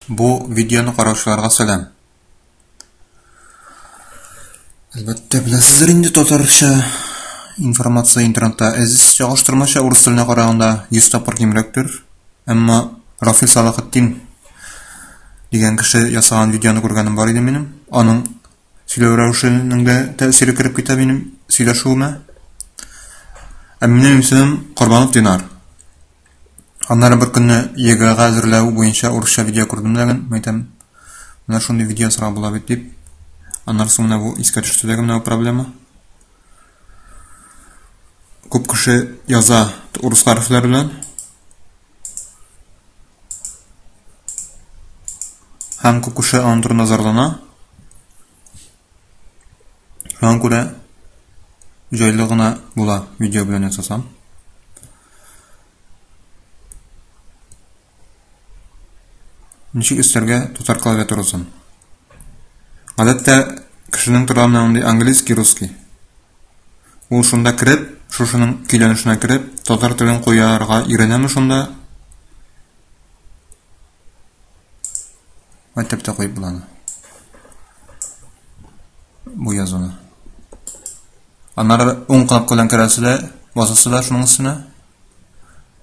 Бу видеоны караучыларга сәлам. Әлбәттә, беләсездер инде татарча информация интернетта әзиз чагыштырмача урыс теленә караганда 100 тапкыр кимрәктер. Әмма Рафил Салахеттин дигән кеше ясаган видеоны күргәнем бар иде минем. Аның сөйләү рәвешенең дә тәэсире кереп китә минем сөйләшүемә. Ә минем исемем Корбанов Динар. Аннары бер көнне ЕГЭга әзерләү буенча урысча видео күрдем дә ген, мәйтәм, менә шундый видео ясарга була бит дип. Аннары соң менә бу искә төште дә менә бу проблема. Күп кеше яза урыс хәрефләре белән. Һәм күп кеше аның турында зарлана. Шуңа күрә җайлы гына була видео белән ясасам. Ничек өстәргә татар клавиатурасын? Гадәттә кешенең тора менә мондый английский, русский. Ул шунда кереп, шушының көйләнешенә кереп, татар телен куярга өйрәнәме шунда? Мәктәптә куеп була аны. Бу язуны. Аннары уң кнопка белән керәсезләр, басасызлар шуның өстенә.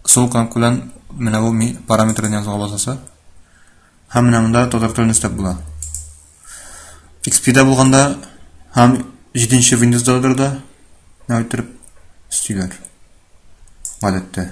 Сул кнопка белән менә бу параметрны язуга басасы. Һәм менә монда татар телен өстәп була. XP-дә булганда һәм 7-нче Windows-да да, нәү итеп, стилер. Гадәттә.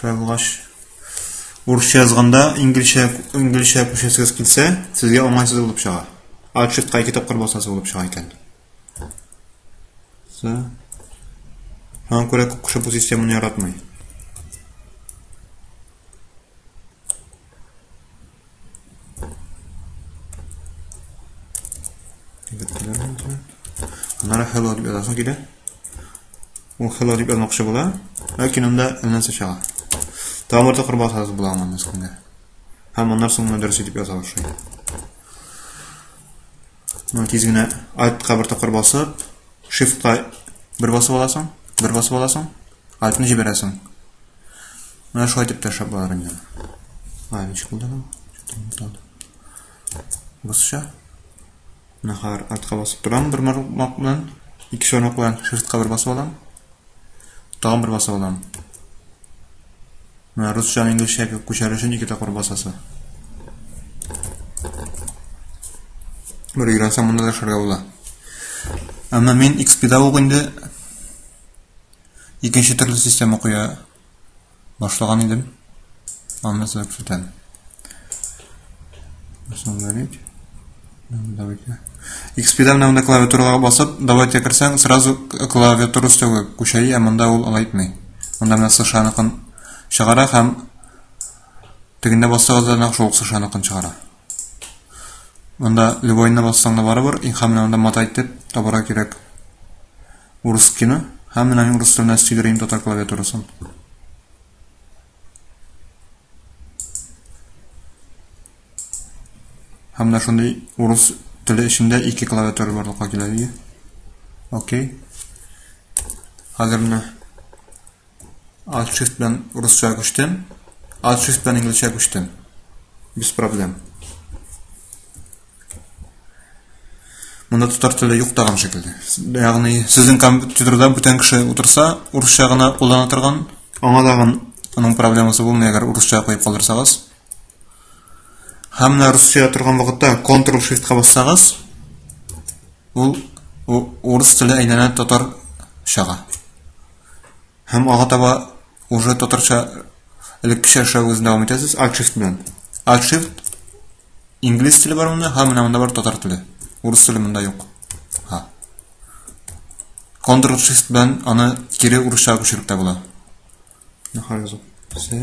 Тайлгач. Урысча язганда инглизчә инглизчә күчәсегез килсә, сезгә уңайсыз булып чыга. Отчетка ике тапкыр басасы булып чыга икән. Сә. Һәм күрә күп кеше бу системаны яратмый. Аннары hello дип язасың килә. Ул hello дип язмакчы була, ләкин анда нәрсә чыга? Тамырда кырба саз була аңа мескенгә. Һәм аннар соң моны дөрес итеп яза башлый. Ну, тиз генә айтка бер тапкыр басып, shift-ка бер басып аласың, бер басып аласың, айтны җибәрәсең. Менә шулай итеп тәшәп бар инде. Лавич булдым. Бусча. Нахар атка басып торам бер мармак белән. Ике шонок белән шифтка бер басып алам. Тагын бер басып алам. Менә русча инглизчә күчәр өчен ике тапкыр басасы. Бер өйрәнсәм монда да шәргә була. Әмма мин XP-да ук инде Икенче төрле система куя башлаган идем. Аны сезгә күрсәтәм. Установить. Давайте. XP-да менә монда клавиатурага басып, давайте кирсәң, сразу клавиатура өстәгә күчәй, ә монда ул алай итми. Монда менә сышаныкын чыгара һәм тегендә бассагыз да нәкъ шул сышаныкын чыгара. Монда любойны бассаң да барыбер, и һәм менә анда мата итеп табарга кирәк. Урыс кино. Һәм менә мин урыс теленә сөйдерим татар клавиатурасын. Һәм менә шундый урыс теле эчендә ике клавиатура барлыкка килә. Окей. Хәзер менә Alt shift белән урысча күчтем. Alt shift белән инглизчә күчтем. Без проблем. Монда татар теле юк тагын шикелле. Ягъни сезнең компьютерда бүтән кеше утырса, урысча гына куллана торган, аңа тагын аның проблемасы булмый, әгәр урысча куеп калдырсагыз. Һәм менә русча торган вакытта Ctrl Shift ка бассагыз, ул урыс теле әйләнә татар чага. Һәм ага таба уже татарча элеккечә эшләвегезне дәвам итәсез. Alt Shift белән. Alt Shift инглиз теле бар монда, һәм менә монда бар татар теле. Урыс теле монда юк. Ха. Ctrl Shift белән аны кире урысча күчереп тә була. Нахар язып. Сә.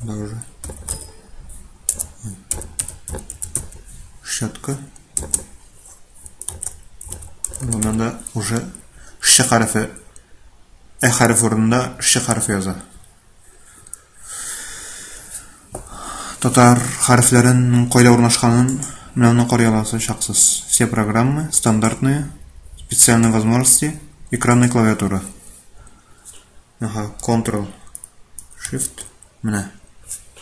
Сюда уже. Щетка. Ну, надо уже ш хәрефе. Ә хәреф урынында ш хәрефе яза. Татар хәрефләрен кайда урнашканын менә аны карый аласыз шаксыз. Все программы стандартные, специальные возможности, экранная клавиатура. Аха, Ctrl Shift менә.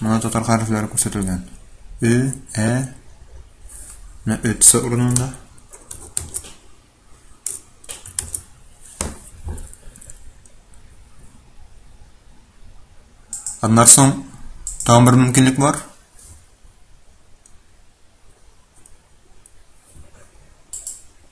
Монда татар хәрефләре күрсәтелгән. Ө, ә, менә өтсе урынында. Аннан соң тагын бер мөмкинлек бар.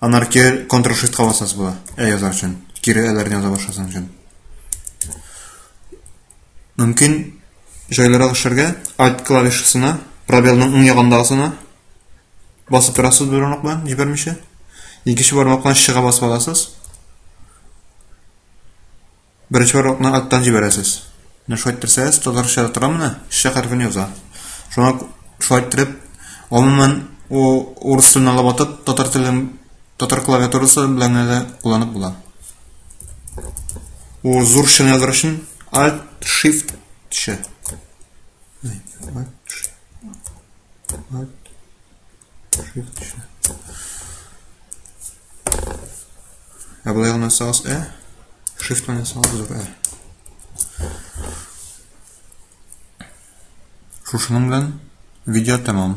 Анар кире Ctrl Shift ка басасыз була. Ә язар өчен. Кире әләрне яза башласаң өчен. Мөмкин җайлырак эшләргә Alt клавишасына, пробелның уң ягындагысына басып торасыз бер урынлык белән җибәрмичә. Икенче бармак белән чыга басып аласыз. Беренче барлыкны аттан җибәрәсез. Менә шулай иттерсәгез, татарча да тора менә, ш хәрефен яза. Шуңа шулай иттереп, гомумән, урыс телен алып атып, татар телен татар клавиатурасы белән генә дә кулланып була. Ул зур шны языр өчен Alt Shift Ш. Alt Ә болай гына саз ә, shift менә саз зур ә. Шушының белән видео тәмам.